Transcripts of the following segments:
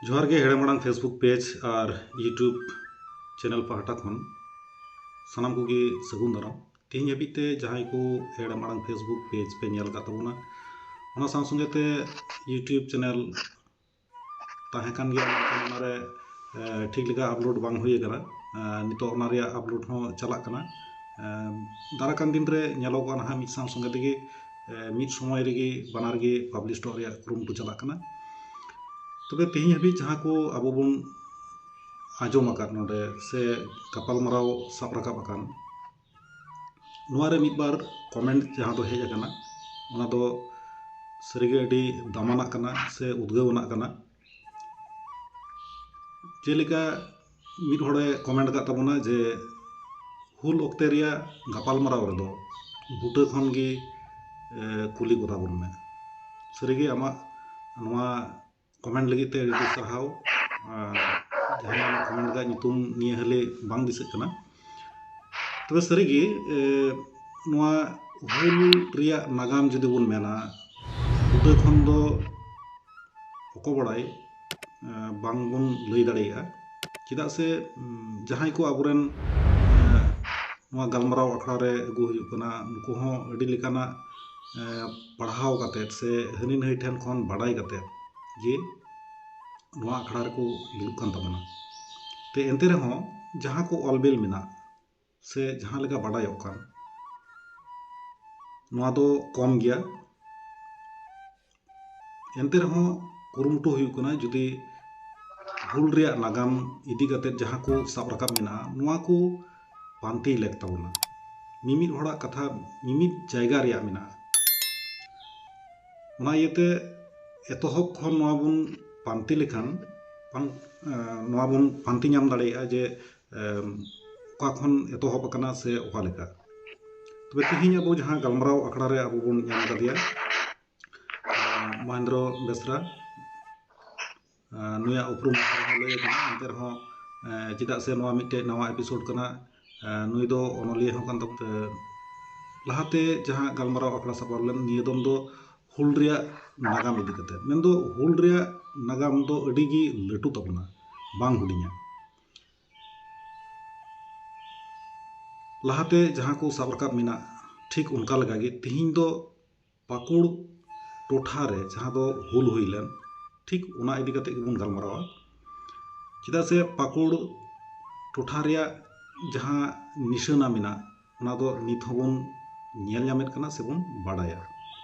ᱡᱚᱦᱟᱨ ᱜᱮ ᱦᱮᱲᱮᱢ ᱟᱲᱟᱝ ᱯᱷᱮᱥᱵᱩᱠ ᱯᱮᱡᱽ ᱟᱨ ᱤᱭᱩᱴᱩᱵᱽ ᱪᱮᱱᱮᱞ ᱯᱟᱦᱴᱟ ᱠᱷᱚᱱ ᱥᱟᱱᱟᱢ ᱠᱚᱜᱮ ᱥᱟᱹᱜᱩᱱ ᱫᱟᱨᱟᱢ ᱛᱮᱦᱮᱧ ᱦᱟᱹᱵᱤᱡ ᱛᱮ ᱡᱟᱦᱟᱸᱭ ᱠᱚ ᱦᱮᱲᱮᱢ ᱟᱲᱟᱝ ᱯᱷᱮᱥᱵᱩᱠ ᱯᱮᱡᱽ ᱯᱮ ᱧᱮᱞ ᱟᱠᱟᱫ ᱛᱟᱵᱚᱱᱟ ᱚᱱᱟ ᱥᱟᱶ ᱥᱚᱸᱜᱮ ᱛᱮ ᱤᱭᱩᱴᱩᱵᱽ ᱪᱮᱱᱮᱞ ᱛᱟᱦᱮᱸ ᱠᱟᱱ ᱜᱮᱭᱟ ᱢᱮᱱᱠᱷᱟᱱ ᱚᱱᱟᱨᱮ ᱴᱷᱤᱠ ᱞᱮᱠᱟ ᱟᱯᱞᱳᱰ ᱵᱟᱝ ᱦᱩᱭ ᱟᱠᱟᱱᱟ ᱱᱤᱛᱚᱜ ᱚᱱᱟ ᱨᱮᱭᱟᱜ ᱟᱯᱞᱳᱰ ᱦᱚᱸ ᱪᱟᱞᱟᱜ ᱠᱟᱱᱟ ᱫᱟᱨᱟᱭ ᱠᱟᱱ ᱫᱤᱱ ᱨᱮ ᱧᱮᱞᱚᱜᱚᱜᱼᱟ ᱱᱟᱦᱟᱜ ᱢᱤᱫ ᱥᱟᱶ ᱥᱚᱸᱜᱮ ᱛᱮᱜᱮ ᱢᱤᱫ ᱥᱚᱢᱚᱭ ᱨᱮᱜᱮ ᱵᱟᱱᱟᱨ ᱜᱮ ᱯᱟᱵᱽᱞᱤᱥ ᱦᱚᱴᱚ ᱨᱮᱭᱟᱜ ᱠᱩᱨᱩᱢᱩᱴᱩ ᱪᱟᱞᱟᱜ ᱠᱟᱱᱟ ᱛᱚᱵᱮ ᱛᱮᱦᱮᱧ ᱦᱟᱹᱵᱤᱡ ᱡᱟᱦᱟᱸ ᱠᱚ ᱟᱵᱚ ᱵᱚᱱ ᱟᱸᱡᱚᱢ ᱟᱠᱟᱫ ᱱᱚᱰᱮ ᱥᱮ ᱜᱟᱯᱟᱞ ᱢᱟᱨᱟᱣ ᱥᱟᱵ ᱨᱟᱠᱟᱵ ᱟᱠᱟᱱ ᱱᱚᱣᱟ ᱨᱮ ᱢᱤᱫ ᱵᱟᱨ ᱠᱚᱢᱮᱱᱴ ᱡᱟᱦᱟᱸ ᱫᱚ ᱦᱮᱡ ᱟᱠᱟᱱᱟ ᱚᱱᱟ ᱫᱚ ᱥᱟᱹᱨᱤ ᱜᱮ ᱟᱹᱰᱤ ᱫᱟᱢᱟᱱᱟᱜ ᱠᱟᱱᱟ ᱥᱮ ᱩᱫᱽᱜᱟᱹᱣᱟᱱᱟᱜ ᱠᱟᱱᱟ ᱡᱮᱞᱮᱠᱟ ᱢᱤᱫ ᱦᱚᱲᱮ ᱠᱚᱢᱮᱱᱴ ᱟᱠᱟᱫ ᱛᱟᱵᱚᱱᱟ ᱡᱮ ᱦᱩᱞ ᱚᱠᱛᱮ ᱨᱮᱭᱟᱜ ᱜᱟᱯᱟᱞᱢᱟᱨᱟᱣ ᱨᱮᱫᱚ ᱵᱩᱴᱟᱹ ᱠᱷᱚᱱ ᱜᱮ ᱠᱩᱞᱤ ᱠᱚᱛᱟ ᱵᱚᱱ ᱢᱮ ᱥᱟᱹᱨᱤᱜᱮ ᱟᱢᱟᱜ ᱱᱚᱣᱟ ᱠᱚᱢᱮᱱᱴ ᱞᱟᱹᱜᱤᱫ ᱛᱮ ᱟᱹᱰᱤ ᱟᱹᱰᱤ ᱥᱟᱨᱦᱟᱣ ᱡᱟᱦᱟᱸᱭ ᱠᱚᱢᱮᱱᱴ ᱟᱠᱟᱫ ᱧᱩᱛᱩᱢ ᱱᱤᱭᱟᱹ ᱦᱟᱹᱞᱤ ᱵᱟᱝ ᱫᱤᱥᱟᱹᱜ ᱠᱟᱱᱟ ᱛᱚᱵᱮ ᱥᱟᱹᱨᱤ ᱜᱮ ᱱᱚᱣᱟ ᱦᱩᱞ ᱨᱮᱭᱟᱜ ᱱᱟᱜᱟᱢ ᱡᱩᱫᱤ ᱵᱚᱱ ᱢᱮᱱᱟ ᱩᱱᱟᱹᱜ ᱜᱟᱱ ᱫᱚ ᱚᱠᱚᱭ ᱵᱟᱲᱟᱭ ᱵᱟᱝ ᱵᱚᱱ ᱞᱟᱹᱭ ᱫᱟᱲᱮᱭᱟᱜᱼᱟ ᱪᱮᱫᱟᱜ ᱥᱮ ᱡᱟᱦᱟᱸᱭ ᱠᱚ ᱟᱵᱚ ᱨᱮᱱ ᱱᱚᱣᱟ ᱜᱟᱞᱢᱟᱨᱟᱣ ᱟᱠᱷᱲᱟ ᱨᱮ ᱟᱹᱜᱩ ᱦᱩᱭᱩᱜ ᱠᱟᱱᱟ ᱩᱱᱠᱩ ᱦᱚᱸ ᱟᱹᱰᱤ ᱞᱮᱠᱟᱱᱟᱜ ᱯᱟᱲᱦᱟᱣ ᱠᱟᱛᱮᱫ ᱥᱮ ᱦᱟᱹᱱᱤ ᱱᱟᱹᱭ ᱴᱷᱮᱱ ᱠᱷᱚᱱ ᱵᱟᱰᱟᱭ ᱠᱟᱛᱮᱫ ᱡᱮ ᱱᱚᱣᱟ ᱟᱠᱷᱲᱟ ᱨᱮᱠᱚ ᱫᱩᱲᱩᱵ ᱠᱟᱱ ᱛᱟᱵᱚᱱᱟ ᱛᱚ ᱮᱱᱛᱮ ᱨᱮᱦᱚᱸ ᱡᱟᱦᱟᱸ ᱠᱚ ᱚᱞ ᱵᱤᱞ ᱢᱮᱱᱟᱜ ᱥᱮ ᱡᱟᱦᱟᱸ ᱞᱮᱠᱟ ᱵᱟᱰᱟᱭᱚᱜ ᱠᱟᱱ ᱱᱚᱣᱟ ᱫᱚ ᱠᱚᱢ ᱜᱮᱭᱟ ᱮᱱᱛᱮ ᱨᱮᱦᱚᱸ ᱠᱩᱨᱩᱢᱩᱴᱩ ᱦᱩᱭᱩᱜ ᱠᱟᱱᱟ ᱡᱩᱫᱤ ᱦᱩᱞ ᱨᱮᱭᱟᱜ ᱱᱟᱜᱟᱢ ᱤᱫᱤ ᱠᱟᱛᱮ ᱡᱟᱦᱟᱸ ᱠᱚ ᱥᱟᱵ ᱨᱟᱠᱟᱵ ᱢᱮᱱᱟᱜᱼᱟ ᱱᱚᱣᱟ ᱠᱚ ᱯᱟᱱᱛᱮ ᱞᱮᱠ ᱛᱟᱵᱚᱱᱟ ᱢᱤᱢᱤᱫ ᱦᱚᱲᱟᱜ ᱠᱟᱛᱷᱟ ᱢᱤᱢᱤᱫ ᱡᱟᱭᱜᱟ ᱨᱮᱭᱟᱜ ᱢᱮᱱᱟᱜᱼᱟ ᱚᱱᱟ ᱤᱭᱟᱹᱛᱮ ᱮᱛᱚᱦᱚᱵ ᱠᱷᱚᱱ ᱱᱚᱣᱟ ᱵᱚᱱ ᱯᱟᱱᱛᱮ ᱞᱮᱠᱷᱟᱱ ᱱᱚᱣᱟ ᱵᱚᱱ ᱯᱟᱱᱛᱮ ᱧᱟᱢ ᱫᱟᱲᱮᱭᱟᱜᱼᱟ ᱡᱮ ᱚᱠᱟ ᱠᱷᱚᱱ ᱮᱛᱚᱦᱚᱵ ᱟᱠᱟᱱᱟ ᱥᱮ ᱚᱠᱟ ᱞᱮᱠᱟ ᱛᱚᱵᱮ ᱛᱮᱦᱮᱧ ᱟᱵᱚ ᱡᱟᱦᱟᱸ ᱜᱟᱞᱢᱟᱨᱟᱣ ᱟᱠᱷᱲᱟ ᱨᱮ ᱟᱵᱚ ᱵᱚᱱ ᱧᱟᱢ ᱠᱟᱫᱮᱭᱟ ᱢᱚᱦᱮᱱᱫᱨᱚ ᱵᱮᱥᱨᱟ ᱱᱩᱭᱟᱜ ᱩᱯᱨᱩᱢ ᱦᱚᱸ ᱞᱟᱹᱭ ᱟᱠᱟᱱᱟ ᱮᱱᱛᱮ ᱨᱮᱦᱚᱸ ᱪᱮᱫᱟᱜ ᱥᱮ ᱱᱚᱣᱟ ᱢᱤᱫᱴᱮᱡ ᱱᱟᱣᱟ ᱮᱯᱤᱥᱳᱰ ᱠᱟᱱᱟ ᱱᱩᱭ ᱫᱚ ᱚᱱᱚᱞᱤᱭᱟᱹ ᱦᱚᱸ ᱠᱟᱱ ᱛᱟᱵᱚᱛᱮ ᱞᱟᱦᱟᱛᱮ ᱡᱟᱦᱟᱸ ᱜᱟᱞᱢᱟᱨᱟᱣ ᱟᱠᱷᱲᱟ ᱥᱟᱯᱲᱟᱣ ᱞᱮᱱ ᱱᱤᱭᱟᱹ ᱫᱚᱢ ᱫᱚ ᱦᱩᱞ ᱨᱮᱭᱟᱜ ᱱᱟᱜᱟᱢ ᱤᱫᱤ ᱠᱟᱛᱮ ᱢᱮᱱᱫᱚ ᱦᱩᱞ ᱨᱮᱭᱟᱜ ᱱᱟᱜᱟᱢ ᱫᱚ ᱟᱹᱰᱤ ᱜᱮ ᱞᱟᱹᱴᱩ ᱛᱟᱵᱚᱱᱟ ᱵᱟᱝ ᱦᱩᱰᱤᱧᱟ ᱞᱟᱦᱟᱛᱮ ᱡᱟᱦᱟᱸ ᱠᱚ ᱥᱟᱵ ᱨᱟᱠᱟᱵ ᱢᱮᱱᱟᱜ ᱴᱷᱤᱠ ᱚᱱᱠᱟ ᱞᱮᱠᱟᱜᱮ ᱛᱤᱦᱤᱧ ᱫᱚ ᱯᱟᱹᱠᱩᱲ ᱴᱚᱴᱷᱟ ᱨᱮ ᱡᱟᱦᱟᱸ ᱫᱚ ᱦᱩᱞ ᱦᱩᱭ ᱞᱮᱱ ᱴᱷᱤᱠ ᱚᱱᱟ ᱤᱫᱤ ᱠᱟᱛᱮ ᱜᱮᱵᱚᱱ ᱜᱟᱞᱢᱟᱨᱟᱣᱟ ᱪᱮᱫᱟᱜ ᱥᱮ ᱯᱟᱹᱠᱩᱲ ᱴᱚᱴᱷᱟ ᱨᱮᱭᱟᱜ ᱡᱟᱦᱟᱸ ᱱᱤᱥᱟᱹᱱᱟ ᱢᱮᱱᱟᱜ ᱚᱱᱟ ᱫᱚ ᱱᱤᱛ ᱦᱚᱸᱵᱚᱱ ᱧᱮᱞ ᱧᱟᱢᱮᱫ ᱠᱟᱱᱟ ᱥᱮᱵᱚᱱ ᱵᱟᱰᱟᱭᱟ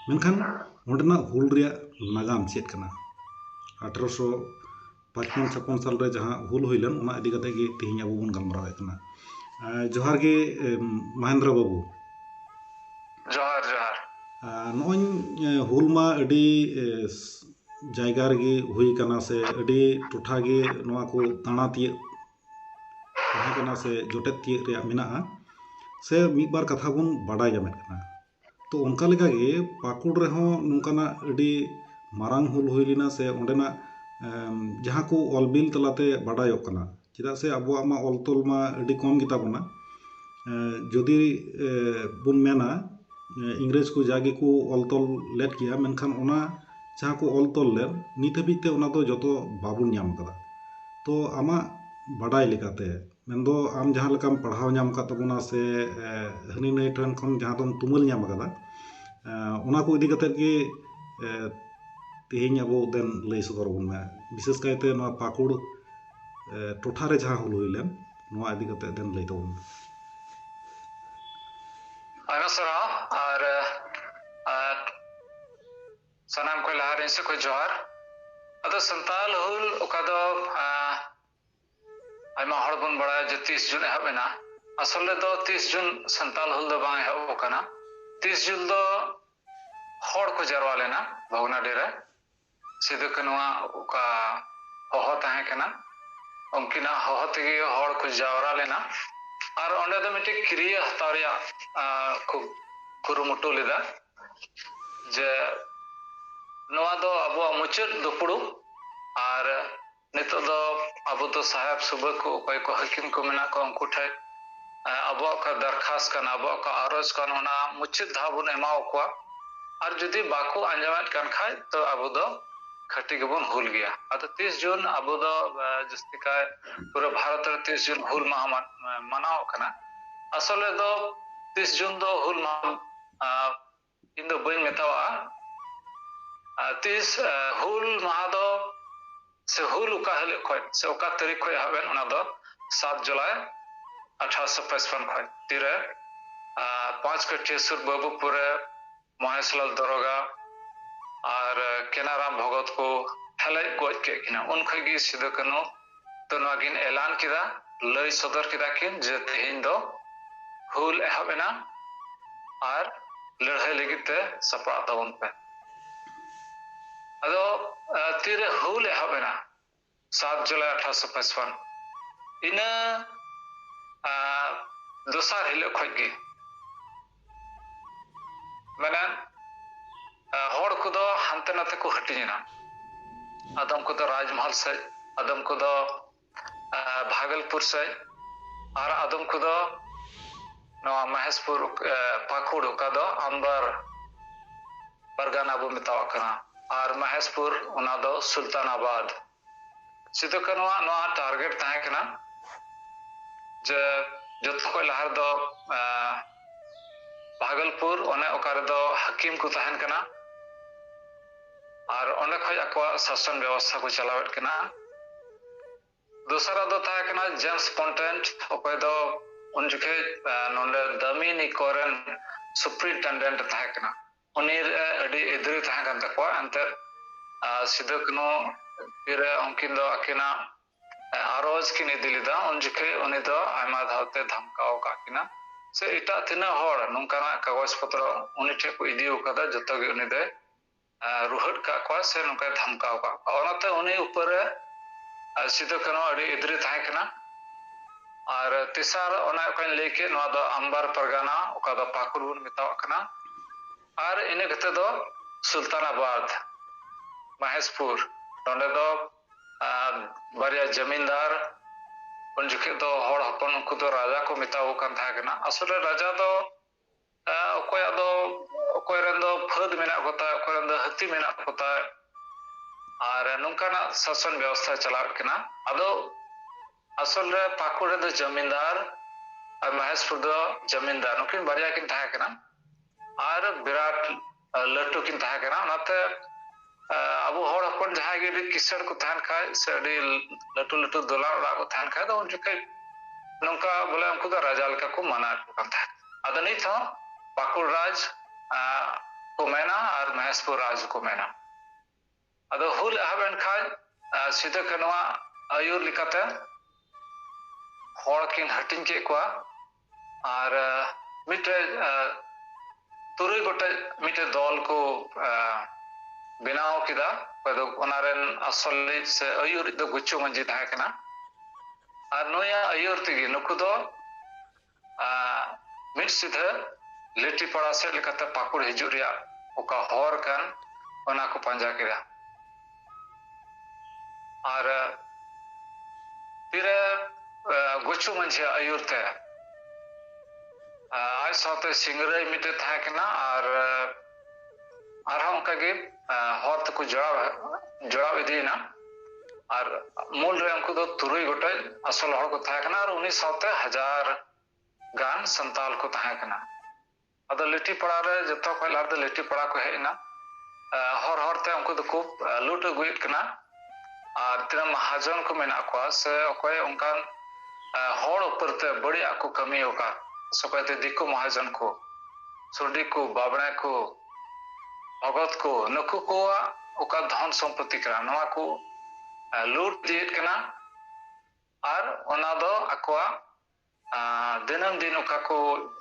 ᱢᱮᱱᱠᱷᱟᱱ ᱚᱸᱰᱮᱱᱟᱜ ᱦᱩᱞ ᱨᱮᱭᱟᱜ ᱱᱟᱜᱟᱢ ᱪᱮᱫ ᱠᱟᱱᱟ ᱟᱴᱷᱨᱚᱥᱚ ᱯᱟᱸᱪᱯᱚᱱ ᱪᱷᱟᱯᱚᱱ ᱥᱟᱞ ᱨᱮ ᱡᱟᱦᱟᱸ ᱦᱩᱞ ᱦᱩᱭ ᱞᱮᱱ ᱚᱱᱟ ᱤᱫᱤ ᱠᱟᱛᱮᱫ ᱜᱮ ᱛᱮᱦᱮᱧ ᱟᱵᱚ ᱵᱚᱱ ᱜᱟᱞᱢᱟᱨᱟᱣᱮᱫ ᱠᱟᱱᱟ ᱡᱚᱦᱟᱨ ᱜᱮ ᱢᱚᱦᱮᱱᱫᱨᱚ ᱵᱟᱹᱵᱩ ᱡᱚᱦᱟᱨ ᱡᱚᱦᱟᱨ ᱱᱚᱜᱼᱚᱭ ᱦᱩᱞ ᱢᱟ ᱟᱹᱰᱤ ᱡᱟᱭᱜᱟ ᱨᱮᱜᱮ ᱦᱩᱭ ᱠᱟᱱᱟ ᱥᱮ ᱟᱹᱰᱤ ᱴᱚᱴᱷᱟ ᱜᱮ ᱱᱚᱣᱟ ᱠᱚ ᱫᱟᱬᱟ ᱛᱤᱭᱟᱹᱜ ᱛᱟᱦᱮᱸ ᱠᱟᱱᱟ ᱥᱮ ᱡᱚᱴᱮᱫ ᱛᱤᱭᱟᱹᱜ ᱨᱮᱭᱟᱜ ᱢᱮᱱᱟᱜᱼᱟ ᱥᱮ ᱢᱤᱫ ᱵᱟᱨ ᱠᱟᱛᱷᱟ ᱵᱚᱱ ᱵᱟᱰᱟᱭ ᱧᱟᱢᱮᱫ ᱠᱟᱱᱟ ᱛᱚ ᱚᱱᱠᱟ ᱞᱮᱠᱟᱜᱮ ᱯᱟᱹᱠᱩᱲ ᱨᱮᱦᱚᱸ ᱱᱚᱝᱠᱟᱱᱟᱜ ᱟᱹᱰᱤ ᱢᱟᱨᱟᱝ ᱦᱩᱞ ᱦᱩᱭ ᱞᱮᱱᱟ ᱥᱮ ᱚᱸᱰᱮᱱᱟᱜ ᱡᱟᱦᱟᱸ ᱠᱚ ᱚᱞ ᱵᱤᱞ ᱛᱟᱞᱟᱛᱮ ᱵᱟᱰᱟᱭᱚᱜ ᱠᱟᱱᱟ ᱪᱮᱫᱟᱜ ᱥᱮ ᱟᱵᱚᱣᱟᱜ ᱢᱟ ᱚᱞ ᱛᱚᱞ ᱢᱟ ᱟᱹᱰᱤ ᱠᱚᱢ ᱜᱮᱛᱟ ᱵᱚᱱᱟ ᱡᱩᱫᱤ ᱵᱚᱱ ᱢᱮᱱᱟ ᱤᱝᱨᱮᱡᱽ ᱠᱚ ᱡᱟ ᱜᱮᱠᱚ ᱚᱞ ᱛᱚᱞ ᱞᱮᱫ ᱜᱮᱭᱟ ᱢᱮᱱᱠᱷᱟᱱ ᱚᱱᱟ ᱡᱟᱦᱟᱸ ᱠᱚ ᱚᱞ ᱛᱚᱞ ᱞᱮᱫ ᱱᱤᱛ ᱦᱟᱹᱵᱤᱡ ᱛᱮ ᱚᱱᱟ ᱫᱚ ᱡᱚᱛᱚ ᱵᱟᱵᱚᱱ ᱧᱟᱢ ᱟᱠᱟᱫᱟ ᱛᱚ ᱟᱢᱟᱜ ᱵᱟᱰᱟᱭ ᱞᱮᱠᱟᱛᱮ ᱢᱮᱱᱫᱚ ᱟᱢ ᱡᱟᱦᱟᱸ ᱞᱮᱠᱟᱢ ᱯᱟᱲᱦᱟᱣ ᱧᱟᱢ ᱟᱠᱟᱫ ᱛᱟᱵᱚᱱᱟ ᱥᱮ ᱦᱟᱹᱱᱤ ᱱᱟᱹᱭ ᱴᱷᱮᱱ ᱠᱷᱚᱱ ᱡᱟᱦᱟᱸ ᱫᱚᱢ ᱛᱩᱢᱟᱹᱞ ᱧᱟᱢ ᱟᱠᱟᱫᱟ ᱚᱱᱟ ᱠᱚ ᱤᱫᱤ ᱠᱟᱛᱮᱫ ᱜᱮ ᱛᱮᱦᱮᱧ ᱟᱵᱚ ᱫᱮᱱ ᱞᱟᱹᱭ ᱥᱚᱫᱚᱨ ᱟᱵᱚᱱ ᱢᱮ ᱵᱤᱥᱮᱥ ᱠᱟᱭᱛᱮ ᱱᱚᱣᱟ ᱯᱟᱹᱠᱩᱲ ᱴᱚᱴᱷᱟ ᱨᱮ ᱡᱟᱦᱟᱸ ᱦᱩᱞ ᱦᱩᱭ ᱞᱮᱱ ᱱᱚᱣᱟ ᱤᱫᱤ ᱠᱟᱛᱮᱫ ᱫᱮᱱ ᱞᱟᱹᱭ ᱛᱟᱵᱚᱱ ᱢᱮ ᱟᱭᱢᱟ ᱥᱟᱨᱦᱟᱣ ᱟᱨ ᱥᱟᱱᱟᱢ ᱠᱚ ᱞᱟᱦᱟᱨᱮ ᱥᱮ ᱠᱚ ᱡᱚᱦᱟᱨ ᱟᱫᱚ ᱥᱟᱱᱛᱟᱞ ᱦᱩᱞ ᱚᱠᱟ ᱫᱚ ᱟᱭᱢᱟ ᱦᱚᱲ ᱵᱚᱱ ᱵᱟᱲᱟᱭᱟ ᱡᱮ ᱛᱤᱥ ᱡᱩᱱ ᱮᱦᱚᱵ ᱮᱱᱟ ᱟᱥᱚᱞᱮ ᱫᱚ ᱛᱤᱥ ᱡᱩᱱ ᱥᱟᱱᱛᱟᱞ ᱦᱩᱞ ᱫᱚ ᱵᱟᱝ ᱮᱦᱚᱵ ᱟᱠᱟᱱᱟ ᱛᱤᱥ ᱡᱩᱱ ᱫᱚ ᱦᱚᱲ ᱠᱚ ᱡᱟᱨᱣᱟ ᱞᱮᱱᱟ ᱵᱷᱚᱜᱽᱱᱟᱰᱤ ᱨᱮ ᱥᱤᱫᱩ ᱠᱟᱹᱱᱩᱣᱟᱜ ᱚᱠᱟ ᱦᱚᱦᱚ ᱛᱟᱦᱮᱸ ᱠᱟᱱᱟ ᱩᱱᱠᱤᱱᱟᱜ ᱦᱚᱦᱚ ᱛᱮᱜᱮ ᱦᱚᱲ ᱠᱚ ᱡᱟᱣᱨᱟ ᱞᱮᱱᱟ ᱟᱨ ᱚᱸᱰᱮ ᱫᱚ ᱢᱤᱫᱴᱮᱡ ᱠᱨᱤᱭᱟᱹ ᱦᱟᱛᱟᱣ ᱨᱮᱭᱟᱜ ᱠᱚ ᱠᱩᱨᱩᱢᱩᱴᱩ ᱞᱮᱫᱟ ᱡᱮ ᱱᱚᱣᱟ ᱫᱚ ᱟᱵᱚᱣᱟᱜ ᱢᱩᱪᱟᱹᱫ ᱫᱩᱯᱲᱩᱵ ᱟᱨ ᱱᱤᱛᱚᱜ ᱫᱚ ᱟᱵᱚ ᱫᱚ ᱥᱟᱦᱮᱵᱽ ᱥᱩᱵᱟᱹ ᱠᱚ ᱚᱠᱚᱭ ᱠᱚ ᱦᱟᱹᱠᱤᱢ ᱠᱚ ᱢᱮᱱᱟᱜ ᱠᱚᱣᱟ ᱩᱱᱠᱩ ᱴᱷᱮᱡ ᱟᱵᱚᱣᱟᱜ ᱚᱠᱟ ᱫᱟᱨᱠᱷᱟᱥ ᱠᱟᱱᱟ ᱟᱵᱚᱣᱟᱜ ᱚᱠᱟ ᱟᱨᱚᱡᱽ ᱠᱟᱱ ᱚᱱᱟ ᱢᱩᱪᱟᱹᱫ ᱫᱷᱟᱣ ᱵᱚᱱ ᱮᱢᱟ ᱠᱚᱣᱟ ᱟᱨ ᱡᱩᱫᱤ ᱵᱟᱠᱚ ᱟᱸᱡᱚᱢᱮᱫ ᱠᱟᱱ ᱠᱷᱟᱡ ᱛᱚ ᱟᱵᱚ ᱫᱚ ᱠᱷᱟᱹᱴᱤ ᱜᱮᱵᱚᱱ ᱦᱩᱞ ᱜᱮᱭᱟ ᱟᱫᱚ ᱛᱤᱥ ᱡᱩᱱ ᱟᱵᱚ ᱫᱚ ᱡᱟᱹᱥᱛᱤ ᱠᱟᱭ ᱯᱩᱨᱟᱹ ᱵᱷᱟᱨᱚᱛ ᱨᱮ ᱛᱤᱥ ᱡᱩᱱ ᱦᱩᱞ ᱢᱟᱦᱟ ᱢᱟᱱᱟᱣᱚᱜ ᱠᱟᱱᱟ ᱟᱥᱚᱞᱮ ᱫᱚ ᱛᱤᱥ ᱡᱩᱱ ᱫᱚ ᱦᱩᱞ ᱢᱟᱦᱟ ᱤᱧ ᱫᱚ ᱵᱟᱹᱧ ᱢᱮᱛᱟᱣᱟᱜᱼᱟ ᱟᱨ ᱛᱤᱥ ᱦᱩᱞ ᱢᱟᱦᱟ ᱫᱚ ᱥᱮ ᱦᱩᱞ ᱚᱠᱟ ᱦᱤᱞᱳᱜ ᱠᱷᱚᱡ ᱥᱮ ᱚᱠᱟ ᱛᱟᱹᱨᱤᱠᱷ ᱠᱷᱚᱡ ᱮᱦᱚᱵ ᱮᱱ ᱚᱱᱟ ᱫᱚ ᱥᱟᱛ ᱡᱩᱞᱟᱭ ᱟᱴᱷᱟᱨᱚᱥᱚ ᱯᱚᱪᱯᱚᱱ ᱠᱷᱚᱡ ᱛᱤᱨᱮ ᱯᱟᱸᱪ ᱠᱟᱹᱴᱷᱤᱭᱟᱹ ᱥᱩᱨ ᱵᱟᱹᱵᱩᱯᱩᱨ ᱨᱮ ᱢᱚᱦᱮᱥᱞᱟᱞ ᱫᱚᱨᱚᱜᱟ ᱟᱨ ᱠᱮᱱᱟᱨᱟᱢ ᱵᱷᱚᱜᱚᱛ ᱠᱚ ᱦᱮᱞᱮᱡ ᱜᱚᱡ ᱠᱮᱫ ᱠᱤᱱᱟ ᱩᱱ ᱠᱷᱚᱡ ᱜᱮ ᱥᱤᱫᱩ ᱠᱟᱹᱱᱦᱩ ᱛᱚ ᱱᱚᱣᱟ ᱠᱤᱱ ᱮᱞᱟᱱ ᱠᱮᱫᱟ, ᱞᱟᱹᱭ ᱥᱚᱫᱚᱨ ᱠᱮᱫᱟ ᱠᱤᱱ ᱡᱮ ᱛᱮᱦᱮᱧ ᱫᱚ ᱦᱩᱞ ᱮᱦᱚᱵ ᱮᱱᱟ ᱟᱨ ᱞᱟᱹᱲᱦᱟᱹᱭ ᱞᱟᱹᱜᱤᱫ ᱛᱮ ᱥᱟᱯᱲᱟᱜ ᱛᱟᱵᱚᱱ ᱯᱮ᱾ ᱟᱫᱚ ᱛᱤᱨᱮ ᱦᱩᱞ ᱮᱦᱚᱵ ᱮᱱᱟ ᱥᱟᱛ ᱡᱩᱞᱟᱭ ᱟᱴᱷᱟᱨᱚᱥᱚ ᱯᱟᱸᱪᱯᱟᱱ ᱤᱱᱟᱹ ᱫᱚᱥᱟᱨ ᱦᱤᱞᱳᱜ ᱠᱷᱚᱡ ᱜᱮ ᱢᱮᱱᱟᱱ ᱦᱚᱲ ᱠᱚᱫᱚ ᱦᱟᱱᱛᱮ ᱱᱟᱛᱮ ᱠᱚ ᱦᱟᱹᱴᱤᱧᱮᱱᱟ ᱟᱫᱚᱢ ᱠᱚᱫᱚ ᱨᱟᱡᱽᱢᱚᱦᱚᱞ ᱥᱮᱫ ᱟᱫᱚᱢ ᱠᱚᱫᱚ ᱵᱷᱟᱜᱚᱞᱯᱩᱨ ᱥᱮᱫ ᱟᱨ ᱟᱫᱚᱢ ᱠᱚᱫᱚ ᱱᱚᱣᱟ ᱢᱚᱦᱮᱥᱯᱩᱨ ᱯᱟᱹᱠᱩᱲ ᱚᱠᱟ ᱫᱚ ᱟᱢᱵᱟᱨ ᱯᱟᱨᱜᱟᱱᱟ ᱵᱚ ᱢᱮᱛᱟᱣᱟᱜ ᱠᱟᱱᱟ ᱟᱨ ᱢᱚᱦᱮᱥᱯᱩᱨ ᱚᱱᱟ ᱫᱚ ᱥᱩᱞᱛᱟᱱᱟᱵᱟᱫᱽ ᱥᱤᱫᱩ ᱠᱟᱹᱱᱩ ᱟᱜ ᱱᱚᱣᱟ ᱴᱟᱨᱜᱮᱴ ᱛᱟᱦᱮᱸ ᱠᱟᱱᱟ ᱡᱮ ᱡᱚᱛᱚ ᱠᱷᱚᱱ ᱞᱟᱦᱟ ᱨᱮᱫᱚ ᱵᱷᱟᱜᱚᱞᱯᱩᱨ ᱚᱱᱮ ᱚᱠᱟ ᱨᱮᱫᱚ ᱦᱟᱹᱠᱤᱢ ᱠᱚ ᱛᱟᱦᱮᱱ ᱠᱟᱱᱟ ᱟᱨ ᱚᱸᱰᱮ ᱠᱷᱚᱱ ᱟᱠᱚᱣᱟᱜ ᱥᱟᱥᱚᱱ ᱵᱮᱵᱚᱥᱛᱷᱟ ᱠᱚ ᱪᱟᱞᱟᱣᱮᱫ ᱠᱟᱱᱟ ᱫᱚᱥᱟᱨᱟᱜ ᱫᱚ ᱛᱟᱦᱮᱸ ᱠᱟᱱᱟ ᱡᱮᱢᱥ ᱯᱚᱱᱴᱮᱱᱴ ᱚᱠᱚᱭ ᱫᱚ ᱩᱱ ᱡᱚᱠᱷᱮᱡ ᱱᱚᱰᱮ ᱫᱟᱢᱤᱱᱤ ᱠᱚᱨᱮᱱ ᱥᱩᱯᱨᱤᱱᱴᱮᱱᱰᱮᱱᱴ ᱛᱟᱦᱮᱸ ᱠᱟᱱᱟ ᱩᱱᱤ ᱨᱮ ᱟᱹᱰᱤ ᱮᱫᱽᱨᱮ ᱛᱟᱦᱮᱸ ᱠᱟᱱ ᱛᱟᱠᱚᱣᱟ ᱮᱱᱛᱮᱫ ᱥᱤᱫᱩ ᱠᱟᱹᱱᱩ ᱛᱤᱨᱮ ᱩᱱᱠᱤᱱ ᱫᱚ ᱟᱹᱠᱤᱱᱟᱜ ᱟᱨᱚᱡᱽ ᱠᱤᱱ ᱤᱫᱤ ᱞᱮᱫᱟ ᱩᱱ ᱡᱚᱠᱷᱮᱡ ᱩᱱᱤ ᱫᱚ ᱟᱭᱢᱟ ᱫᱷᱟᱣᱛᱮ ᱫᱷᱟᱢᱠᱟᱣ ᱟᱠᱟᱫ ᱠᱤᱱᱟ ᱥᱮ ᱮᱴᱟᱜ ᱛᱤᱱᱟᱹᱜ ᱦᱚᱲ ᱱᱚᱝᱠᱟᱱᱟᱜ ᱠᱟᱜᱚᱡᱽ ᱯᱚᱛᱨᱚ ᱩᱱᱤ ᱴᱷᱮᱱ ᱠᱚ ᱤᱫᱤ ᱟᱠᱟᱫᱟ ᱡᱚᱛᱚ ᱜᱮ ᱩᱱᱤ ᱫᱚᱭ ᱨᱩᱦᱟᱹᱫ ᱠᱟᱜ ᱠᱚᱣᱟ ᱥᱮ ᱱᱚᱝᱠᱟᱭ ᱫᱷᱟᱢᱠᱟᱣ ᱠᱟᱜ ᱠᱚᱣᱟ ᱚᱱᱟᱛᱮ ᱩᱱᱤ ᱩᱯᱟᱹᱨ ᱨᱮ ᱥᱤᱫᱩ ᱠᱟᱹᱱᱩ ᱟᱹᱰᱤ ᱮᱫᱽᱨᱮ ᱛᱟᱦᱮᱸ ᱠᱟᱱᱟ ᱟᱨ ᱛᱮᱥᱟᱨ ᱚᱱᱟ ᱚᱠᱟᱧ ᱞᱟᱹᱭ ᱠᱮᱫ ᱱᱚᱣᱟ ᱫᱚ ᱟᱢᱵᱟᱨ ᱯᱟᱨᱜᱟᱱᱟ ᱚᱠᱟ ᱫᱚ ᱯᱟᱹᱠᱩᱲ ᱵᱚᱱ ᱢᱮᱛᱟᱣᱟᱜ ᱠᱟᱱᱟ ᱟᱨ ᱤᱱᱟᱹ ᱠᱟᱛᱮ ᱫᱚ ᱥᱩᱞᱛᱟᱱᱟᱵᱟᱫᱽ ᱢᱟᱦᱮᱥᱯᱩᱨ ᱱᱚᱸᱰᱮ ᱫᱚ ᱵᱟᱨᱭᱟ ᱡᱟᱢᱤᱱᱫᱟᱨ ᱩᱱ ᱡᱚᱠᱷᱮᱡ ᱫᱚ ᱦᱚᱲ ᱦᱚᱯᱚᱱ ᱩᱱᱠᱩ ᱫᱚ ᱨᱟᱡᱟ ᱠᱚ ᱢᱮᱛᱟᱣ ᱠᱟᱱ ᱛᱟᱦᱮᱸ ᱠᱟᱱᱟ ᱟᱥᱚᱞᱮ ᱨᱟᱡᱟ ᱫᱚ ᱚᱠᱚᱭᱟᱜ ᱫᱚ ᱚᱠᱚᱭ ᱨᱮᱱ ᱫᱚ ᱯᱷᱟᱹᱫ ᱢᱮᱱᱟᱜ ᱠᱚᱛᱟ ᱚᱠᱚᱭ ᱨᱮᱱ ᱫᱚ ᱦᱟᱹᱛᱤ ᱢᱮᱱᱟᱜ ᱠᱚᱛᱟ ᱟᱨ ᱱᱚᱝᱠᱟᱱᱟᱜ ᱥᱟᱥᱚᱱ ᱵᱮᱵᱚᱥᱛᱷᱟ ᱪᱟᱞᱟᱜ ᱠᱟᱱᱟ ᱟᱫᱚ ᱟᱥᱚᱞ ᱨᱮ ᱯᱟᱹᱠᱩᱲ ᱨᱮᱫᱚ ᱡᱚᱢᱤᱱᱫᱟᱨ ᱟᱨ ᱢᱚᱦᱮᱥᱯᱩᱨ ᱫᱚ ᱡᱚᱢᱤᱱᱫᱟᱨ ᱱᱩᱠᱤᱱ ᱵᱟᱨᱭᱟ ᱠᱤᱱ ᱛᱟᱦᱮᱸ ᱠᱟᱱᱟ ᱟᱨ ᱵᱤᱨᱟᱴ ᱞᱟᱹᱴᱩ ᱠᱤᱱ ᱛᱟᱦᱮᱸ ᱠᱟᱱᱟ ᱚᱱᱟᱛᱮ ᱟᱵᱚ ᱦᱚᱲ ᱦᱚᱯᱚᱱ ᱡᱟᱦᱟᱸᱭ ᱜᱮ ᱟᱹᱰᱤ ᱠᱤᱥᱟᱹᱬ ᱠᱚ ᱛᱟᱦᱮᱱ ᱠᱷᱟᱡ ᱥᱮ ᱟᱹᱰᱤ ᱞᱟᱹᱴᱩ ᱞᱟᱹᱴᱩ ᱫᱚᱞᱟᱱ ᱚᱲᱟᱜ ᱠᱚ ᱛᱟᱦᱮᱱ ᱠᱷᱟᱡ ᱫᱚ ᱩᱱ ᱡᱚᱠᱷᱮᱡ ᱱᱚᱝᱠᱟ ᱵᱚᱞᱮ ᱩᱱᱠᱩ ᱫᱚ ᱨᱟᱡᱟ ᱞᱮᱠᱟ ᱠᱚ ᱢᱟᱱᱟᱣᱮᱫ ᱠᱚ ᱠᱟᱱ ᱛᱟᱦᱮᱸᱫ ᱟᱫᱚ ᱱᱤᱛ ᱦᱚᱸ ᱯᱟᱠᱩᱲ ᱨᱟᱡᱽ ᱠᱚ ᱢᱮᱱᱟ ᱟᱨ ᱢᱚᱦᱮᱥᱯᱩᱨ ᱨᱟᱡᱽ ᱠᱚ ᱢᱮᱱᱟ ᱟᱫᱚ ᱦᱩᱞ ᱮᱦᱚᱵ ᱮᱱ ᱠᱷᱟᱱ ᱥᱤᱫᱩ ᱠᱟᱹᱱᱩᱣᱟᱜ ᱟᱹᱭᱩᱨ ᱞᱮᱠᱟᱛᱮ ᱦᱚᱲ ᱠᱤᱱ ᱦᱟᱹᱴᱤᱧ ᱠᱮᱫ ᱠᱚᱣᱟ ᱟᱨ ᱢᱤᱫᱴᱮᱡ ᱛᱩᱨᱩᱭ ᱜᱚᱴᱮᱡ ᱢᱤᱫᱴᱮᱡ ᱫᱚᱞ ᱠᱚ ᱵᱮᱱᱟᱣ ᱠᱮᱫᱟ ᱚᱠᱚᱭ ᱫᱚ ᱚᱱᱟ ᱨᱮᱱ ᱟᱥᱚᱞᱤᱡ ᱥᱮ ᱟᱹᱭᱩᱨᱤᱡ ᱫᱚ ᱜᱩᱪᱩ ᱢᱟᱹᱡᱷᱤ ᱛᱟᱦᱮᱸ ᱠᱟᱱᱟ ᱟᱨ ᱱᱩᱭᱟᱜ ᱟᱹᱭᱩᱨ ᱛᱮᱜᱮ ᱱᱩᱠᱩ ᱫᱚ ᱢᱤᱫ ᱥᱤᱫᱷᱟᱹ ᱞᱤᱴᱤᱯᱟᱲᱟ ᱥᱮᱫ ᱞᱮᱠᱟᱛᱮ ᱯᱟᱠᱩᱲ ᱦᱤᱡᱩᱜ ᱨᱮᱭᱟᱜ ᱚᱠᱟ ᱦᱚᱨ ᱠᱟᱱ ᱚᱱᱟ ᱠᱚ ᱯᱟᱸᱡᱟ ᱠᱮᱫᱟ ᱟᱨ ᱛᱤᱨᱮ ᱜᱩᱪᱩ ᱢᱟᱹᱡᱷᱤᱭᱟᱜ ᱟᱹᱭᱩᱨ ᱛᱮ ᱟᱡ ᱥᱟᱶᱛᱮ ᱥᱤᱝᱨᱟᱹᱭ ᱢᱤᱫᱴᱮᱡ ᱛᱟᱦᱮᱸ ᱠᱟᱱᱟ ᱟᱨ ᱟᱨᱦᱚᱸ ᱚᱱᱠᱟᱜᱮ ᱦᱚᱨ ᱛᱮᱠᱚ ᱡᱚᱲᱟᱣ ᱡᱚᱲᱟᱣ ᱤᱫᱤᱭᱮᱱᱟ ᱟᱨ ᱢᱩᱞ ᱨᱮ ᱩᱱᱠᱩ ᱫᱚ ᱛᱩᱨᱩᱭ ᱜᱚᱴᱮᱡ ᱟᱥᱚᱞ ᱦᱚᱲ ᱠᱚ ᱛᱟᱦᱮᱸ ᱠᱟᱱᱟ ᱟᱨ ᱩᱱᱤ ᱥᱟᱶᱛᱮ ᱦᱟᱡᱟᱨ ᱜᱟᱱ ᱥᱟᱱᱛᱟᱞ ᱠᱚ ᱛᱟᱦᱮᱸ ᱠᱟᱱᱟ ᱟᱫᱚ ᱞᱤᱴᱤ ᱯᱟᱲᱟ ᱨᱮ ᱡᱚᱛᱚ ᱠᱷᱚᱡ ᱞᱟᱦᱟ ᱫᱚ ᱞᱤᱴᱤ ᱯᱟᱲᱟ ᱠᱚ ᱦᱮᱡ ᱮᱱᱟ ᱦᱚᱨ ᱦᱚᱨᱛᱮ ᱩᱱᱠᱩ ᱫᱚᱠᱚ ᱞᱩᱴ ᱟᱹᱜᱩᱭᱮᱫ ᱠᱟᱱᱟ ᱟᱨ ᱛᱤᱱᱟᱹᱜ ᱢᱟᱦᱟᱡᱚᱱ ᱠᱚ ᱢᱮᱱᱟᱜ ᱠᱚᱣᱟ ᱥᱮ ᱚᱠᱚᱭ ᱚᱱᱠᱟᱱ ᱦᱚᱲ ᱩᱯᱟᱹᱨ ᱛᱮ ᱵᱟᱹᱲᱤᱡ ᱟᱜ ᱠᱚ ᱠᱟᱹᱢᱤ ᱟᱠᱟᱫ ᱥᱮ ᱚᱠᱚᱭ ᱛᱮ ᱫᱤᱠᱩ ᱢᱟᱦᱟᱡᱚᱱ ᱠᱚ ᱥᱩᱰᱤ ᱠᱚ ᱵᱟᱵᱽᱬᱮ ᱠᱚ ᱵᱷᱚᱜᱚᱛ ᱠᱚ ᱱᱩᱠᱩ ᱠᱚᱣᱟᱜ ᱚᱠᱟ ᱫᱷᱚᱱ ᱥᱚᱢᱯᱚᱛᱛᱤ ᱠᱟᱱᱟ ᱱᱚᱣᱟ ᱠᱚ ᱞᱩᱴ ᱤᱫᱤᱭᱮᱫ ᱠᱟᱱᱟ ᱟᱨ ᱚᱱᱟ ᱫᱚ ᱟᱠᱚᱣᱟᱜ ᱫᱤᱱᱟᱹᱢ ᱫᱤᱱ ᱚᱠᱟ ᱠᱚ